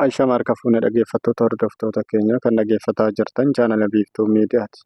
Aisha Marka fuune dhaggeeffattoota hordoftoota keenya kan dhaggeeffataa jirtan chaanala biiftuu miidiyaati.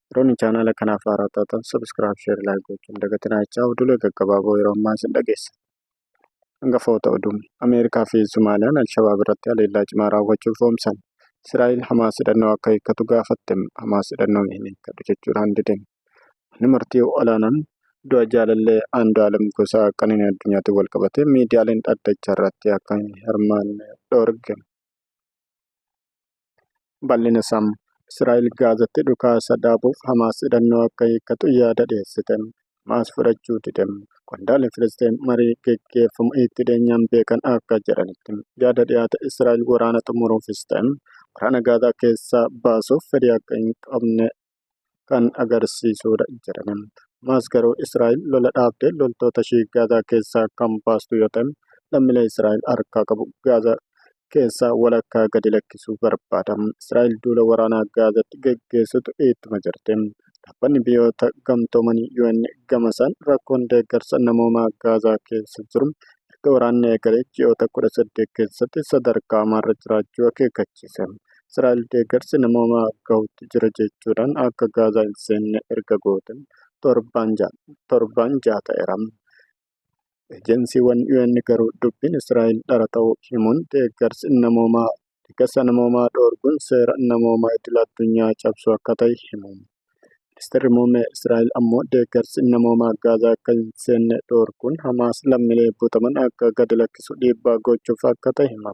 Yeroon chaanala kanaaf haaraa taatan sabiskiraayib sheer laayik gochuun dagatinaa jechaa oduulee gaggabaaboo yeroo ammaa isin dhageessa. Hangafoota oduu Ameerikaa fi Sumaaliyaan Alshabaab irratti haleellaa cimaa raawwachuuf oomsan. Israa'el Hamaas hidhannoo akka hiikkatu gaafatte. Hamaas hidhannoo hin hiikkatu jechuudhaan didame. Manni murtii olaanaan du'a jaalallee Andu'aalem Gosaa Qananii Addunyaatiin walqabatee miidiyaaleen dhaddacha irratti akka hin hirmaanne dhoorge. Bal'ina isaa Israa'el Gaazatti dhukaasa dhaabuuf Hamaas hidhannoo akka hiikkatu yaada dhiyeessite. Hamaas fudhachuu dide. Qondaalli Filisxeem marii geggeeffamu itti dhiyeenyaan beekan akka jedhanitti yaada dhiyaate Israa'el waraana xumuruufis ta'e waraana Gaazaa keessaa baasuuf fedhii akka hin qabne kan agarsiisudha jedhaniin. Hamaas garuu Israa'el lola dhaabdee loltoota ishii Gaazaa keessaa kan baastu yoo ta'e lammilee Israa'el harkaa qabu Gaazaa keessaa walakkaa gadi lakkisuu barbaada. Israa'el duula waraanaa Gaazaatti geggeessitu ittuma jirti. Dhaabbanni biyyoota gamtoomanii UN gamasaan rakkoon deeggarsa namoomaa Gaazaa keessa jiru erga waraanni eegalee ji'oota 18 keessatti sadarkaa hamaarra jiraachuu akeekkachiise. Israa'el deeggarsi namoomaa gahuutti jira jechuudhaan akka Gaazaa hin seenne erga goote torbaan jaha ta'eera. Ejensiiwwan UN garuu dubbiin Israa'el dhara ta'uu himuun deeggarsi namoomaa deeggarsa namoomaa dhoorguun seera namoomaa idil addunyaa cabsuu akka ta'e himu. Ministeerri Muummee Israa'el ammoo deeggarsi namoomaa Gaazaa akka hin seenne dhoorguun Hamaas lammiilee butaman akka gadi lakkisu dhiibbaa gochuuf akka ta'e hima.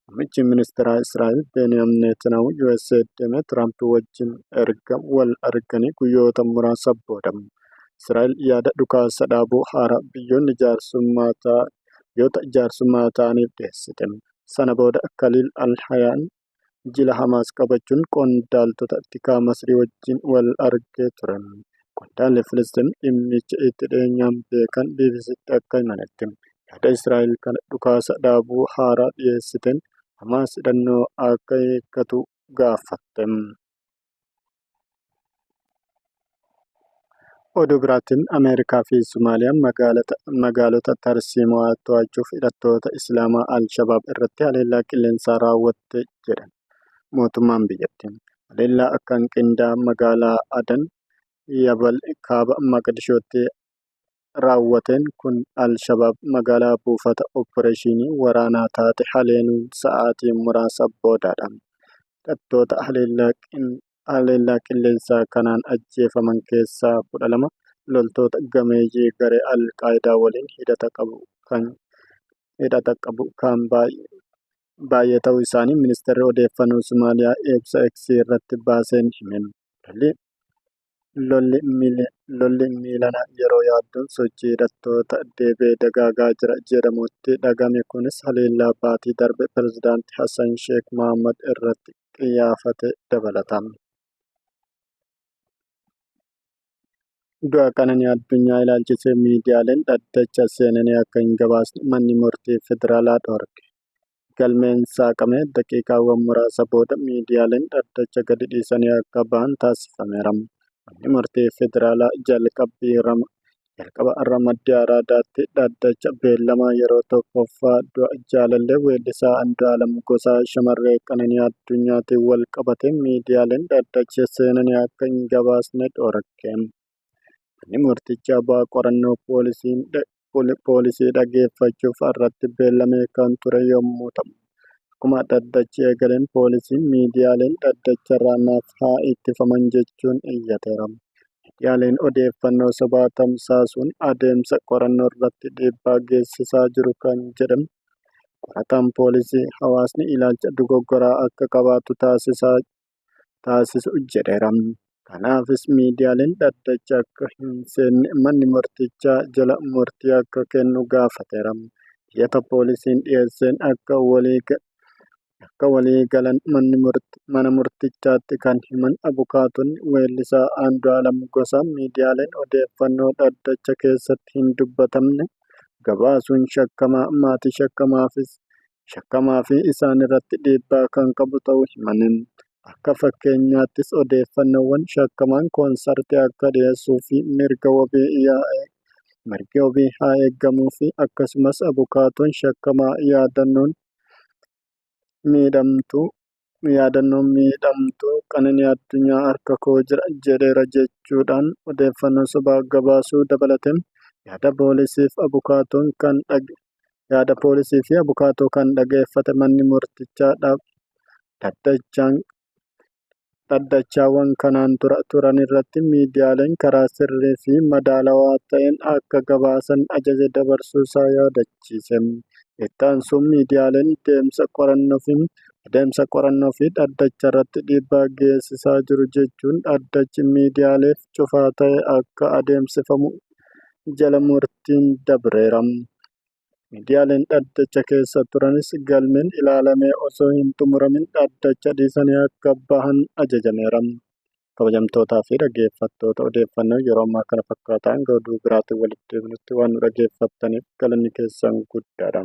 Muummichi ministeeraa Israa'el Beeniyam Neetanahu USA deemee Tiraamp wajjin erga wal arganii guyyoota muraasa booda Israa'el yaada dhukaasa dhaabuu haaraa biyyoonni jaarsummaa ta'an biyyoota jaarsummaa ta'aniif dhiyeessite. Sana booda Khalil al-Hayyan jila Hamaas qabachuun qondaaltota tikaa Masrii wajjin wal argee ture. Qondaalli Filisxeem dhimmicha itti dhiyeenyaan beekan BBC'tti akka himanitti, yaada Israa'el kan dhukaasa dhaabuu haaraa dhiyeessiteen Hamaas hidhannoo akka hiikkatu gaafatte. Oduu biraatiin Ameerikaa fi Somaaliyaan magaalota tarsiimawaa to'achuuf hidhattoota Islaamaa Al-Shabaab irratti haleellaa qilleensaa raawwatte jedhan mootummaan biyyattii. Haleellaa akkaan qindaa'aan magaalaa Adan Yabal kaaba Maqdishootti raawwateen kun al-Shabaab magaalaa buufata oppireeshinii waraanaa taate haleenuun sa'aatii muraasa boodadha. Hidhattoota haleellaa qilleensaa kanaan ajjeefaman keessaa 12 loltoota gameeyyii garee al-Qaayidaa waliin hidhata qabu kan hidhata qabu kan baay'ee ta'uu isaanii ministeerri odeeffannoo Somaaliyaa ibsa X irratti baaseen hime. Lolli miilanaa yeroo yaaddoon sochii hidhattoota deebi'ee dagaagaa jira jedhamutti dhagahame kunis haleellaa baatii darbe pirezidaanti Hassan Sheek Mahaammad irratti qiyyaafate dabalata. Du'a qananii addunyaa ilaalchisee miidiyaaleen dhaddacha seenanii akka hin gabaasne manni murtii federaalaa dhorke. galmeen saaqame daqiiqaawwan muraasa booda miidiyaaleen dhaddacha gadi dhiisanii akka bahan taasifameera. Manni murtii federaalaa jalqabbii rama jalqaba ramaddii araadaatti dhaddacha beellamaa yeroo tokkoffaa du'a jaalallee weellisaa Andu'aalam Gosaa shamarree Qananii Addunyaatiin wal qabatee miidiyaaleen dhaddacha seenanii akka hin gabaasne dhorke. Manni murtichi abbaa qorannoo poolisii dhaggeeffachuuf har'atti beellamee kan ture yommuu ta'u, akkuma dhaddachi eegaleen poolisiin miidiyaaleen dhaddacharraa naaf haa ittifaman jechuun iyyateera. Miidiyaaleen odeeffannoo sobaa tamsaasuun adeemsa qorannoorratti dhiibbaa geessisaa jiru kan jedhan qorataan poolisii hawaasni ilaalcha dogoggoraa akka qabaatu taasisaa taasisu jedheera. Kanaafis miidiyaaleen dhaddacha akka hin seenne manni murtichaa jala murtii akka kennu gaafateera. Iyyata poolisiin dhiyeesseen akka akka walii galan mana murtichaatti kan himan abukaatonni weellisaa Andu'aalam Gosaa miidiyaaleen odeeffannoo dhaddacha keessatti hin dubbatamne gabaasuun shakkamaa maatii shakkamaafis shakkamaa fi isaan irratti dhiibbaa kan qabu ta'uu himani. Akka fakkeenyaattis odeeffannoowwan shakkamaan koonsartii akka dhiyeessuu fi mirga wabii yaa'ee mirgi wabii haa eegamuu fi akkasumas abukaatoon shakkamaa yaadannoon miidhamtuu yaadannoon miidhamtuu Qananii Addunyaa harka koo jira jedheera jechuudhaan odeeffannoo sobaa gabaasuu dabalatee yaada poolisii fi abukaatoon kan dhage yaada poolisii fi abukaatoo kan dhageeffate manni murtichaa dhaddachaan dhaddachaawwan kanaan dura turan irratti miidiyaaleen karaa sirrii fi madaalawaa ta'een akka gabaasan ajaja dabarsuu isaa yaadachiise. Itti aansuun miidiyaaleen deemsa qorannoo fi adeemsa qorannoo fi dhaddacha irratti dhiibbaa geessisaa jiru jechuun dhaddachi miidiyaaleef cufaa ta'e akka adeemsifamu jala murtiin dabreera. Miidiyaaleen dhaddacha keessa turanis galmeen ilaalamee osoo hin xumuramin dhaddacha dhiisanii akka bahan ajajameera. kabajamtootaa fi dhaggeeffattoota odeeffannoo yeroo ammaa kana fakkaata hanga oduu biraatiin walitti deebinutti waan nu dhaggeeffattaniif galanni keessan guddaadha.